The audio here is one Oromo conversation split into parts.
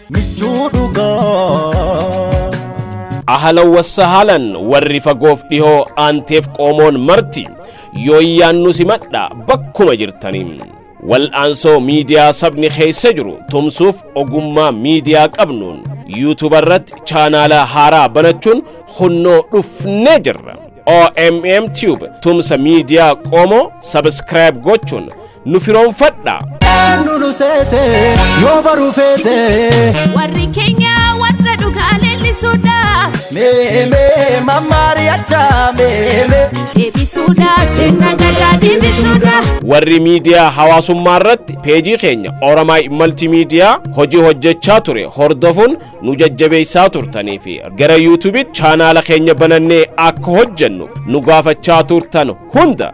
michuu dhugaa. ahalan wassahaalan warri fagoof dhihoo aanteef qoomoon marti yooyyaan nu simadha bakkuma jirtanii Wal'aansoo miidiyaa sabni keessa jiru tumsuuf ogummaa miidiyaa qabnuun yuutuuba irratti chaanaala haaraa banachuun hunnoo dhufnee jirra. OMM Tube tumsa miidiyaa qoomoo sabiskiraayib gochuun nu firoomfadha. Eenyu nu seete yoo baruu feete. Warri keenya warra dhugaa leellisuudha. Mee mee mammaari achaa mee mee. Deebisuudha sirna gadaa deebisuudha. Warri miidiyaa hawaasummaa irratti peejii keenya Oromaay Maltiimiidiyaa hojii hojjechaa ture hordofuun nu jajjabeessaa turtanii fi gara yuutuubiitti chaanaala keenya banannee akka hojjennuuf nu gaafachaa turtan hunda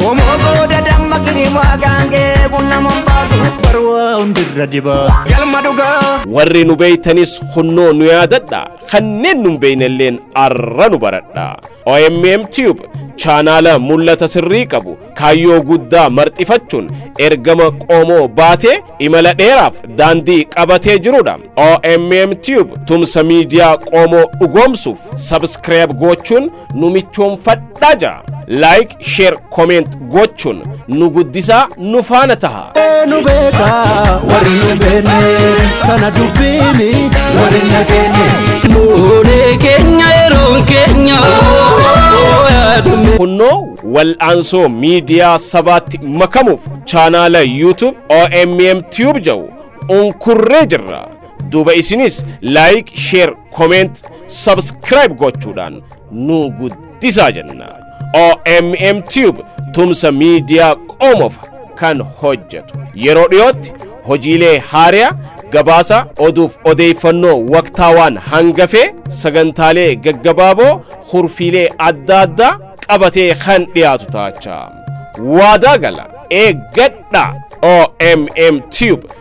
Qomoo booda damma kirimaa gaangee bunna mombaasu barwaa hundirra dibaa galma dhugaa. Warri nu beeytanis kunnoo nu yaadadha. Kanneen nu hin beeynelleen arra nu baradha. OMM Tube chaanaala mul'ata sirrii qabu kaayyoo guddaa marxifachuun ergama qoomoo baatee imala dheeraaf daandii qabatee jirudha. OMM Tube tumsa miidiyaa qoomoo dhugoomsuuf sabskiraayib gochuun nu michoomfadhaa ja like share comment gochuun nu guddisaa nu faana taha nu beeka warri nu beenne tana dubbiini warri na keenne. Nuunee keenya yeroon keenya yaadume. kunnoo wal'aansoo miidiyaa sabaatti makamuuf chaanaala youtube OMM Tube jedhu unkurree jirra duuba isinis like share comment subscribe gochuudhaan nu guddisaa jenna OMM Tube tumsa miidiyaa qomoof kan hojjetu yeroo dhiyootti hojiilee haariyaa gabaasa oduuf odeeffannoo waqtaawaan hangafee sagantaalee gaggabaaboo hurfiilee adda addaa qabatee kan dhiyaatu taachaa waadaa gala eeggadha OMM Tube